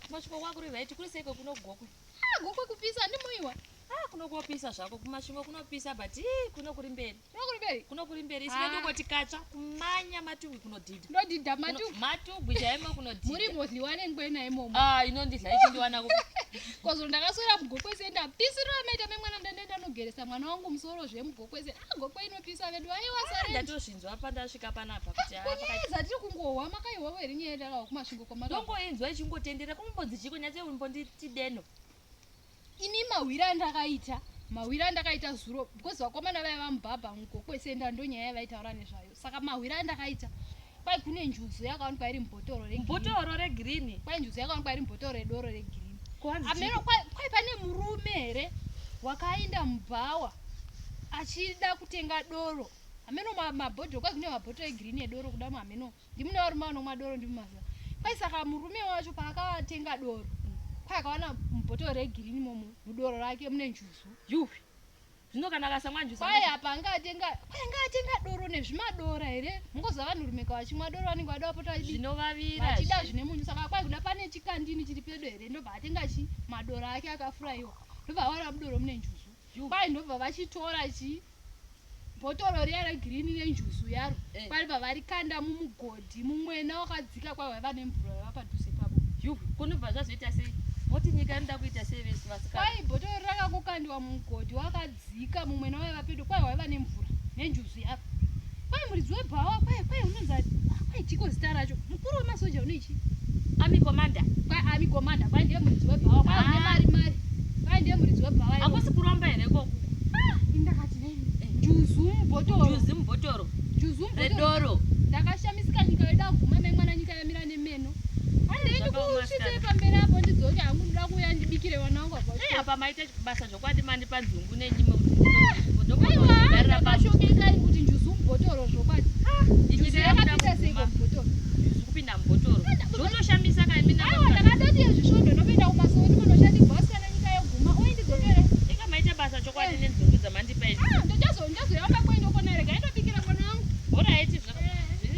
Kumasvingo kwangu kuri right, kuri seiko kuno gokwe. Ah, gokwe kupisa handimoiwa. Ah, kuno kopisa zvako kumasvingo kunopisa but ii kuno kuri mberi. Kuno kuri mberi. Kuno kuri mberi. Sime ah. ndokoti katsva kumanya matugwi kunodhidha. Ndodhidha matugwi. Matugwi chaimo kunodhidha. Muri mozliwane ngwena imomo. Ah, inondidla ichindiwana kupi. Kozolo ndakaswera mugokwe senda. Pisiro amaita memwana ndandaita nogeresa mwana wangu musoro zvemugokwese. Ah, gokwe inopisa vedu. Aiwa ah, sare. ndinonzwa pandasvika panapa kuti haa pakati- kunyaya dzatiri kungohwa makaihwawo here nyaya yatakawa kumasvingo kwamaka ndongoinzwa ichingotendera kumbonzi chiko nyati umbonditi deno ini mahwira andakaita mahwira andakaita zuro because vakomana vaya vamubhabha muko kwese enda ndonyaya yavaitaura nezvayo saka mahwira andakaita kwai kune njuzu yakawanikwa iri mubhotoro regirini bhotoro regirini kwai njuzu yakawanikwa iri mubhotoro redoro regirini kuhanzi ameno chiko kwai kwai pane murume here wakaenda mubhawa achida kutenga doro hameno mabhodhoro kwai kune mabhodhoro egirini edoro kuda hameno ndimune varume vanomwa doro ndimumaziva kwai saka murume wacho paakatenga doro kwai akawana mubhodhoro regirini momo mudoro rake mune njuzu yuwi zvino kana akasamwa njuzu kwai apa anga atenga kwai anga atenga doro nezvimadora here mungoziva vanhu rumeka vachimwa doro vanenge vada vapota vachida zvine munyu saka kwai kuda pane chikandini chiri pedo here ndobva atenga chi madora ake akafuraiwa ndobva awana mudoro mune njuzu Kwai ndobva vachitora chii bhotoro riya regirini nenjuzu yaro eh. kwari vavarikanda mumugodhi mumwena wakadzika kwai waiva nemvura yava padhuze pavo yu kunobva zvazoita sei moti nyika inoda kuita sei vese vasika kwai bhotoro rakakokandiwa mumugodhi wakadzika mumwena waiva pedo kwai waiva nemvura nenjuzu yaro Kwai muridzi webhawa kwai kwai unonzi ah, kwai chiko zita racho. Mukuru wemasoja unoichi. Ami commander. Kwai ami commander kwai ndiye muridzi webhawa kwai ah. une mari mari. Kwai ndiye muridzi webhawa. Hakusi kuromba here koko? Ah, indakati nei? Eh. Juzu mubhotoro. Juzu mubhotoro. Juzu mubhotoro. Redoro. Ndakashamisika nyika yoda kuguma memwana nyika yamira nemeno. Handiende kusvitse pamberi apo ndidzoke hangu ndoda kuuya ndibikire vana wangu apa. Hey, apa maita basa Ndokwadi mandipa dzungu nenyime kuti ndinokugarira pasi. kuti njuzu mubhotoro zvokwadi. Njuzu yakapinda sei mubhotoro? Njuzu kupinda mubhotoro. Zvotoshamisa kai mina. Aiwa ndakatoti yezvisvondo ndopinda kumasowe kuti munoshandi boss kana nyika yoguma uye ndizotore. Inga maita basa chokwadi eh. nedzungu dzamandipa idzi. Ah ndochazo ndozoyamba kwendokona rega indobikira mwana wangu. Bora iti zvaka.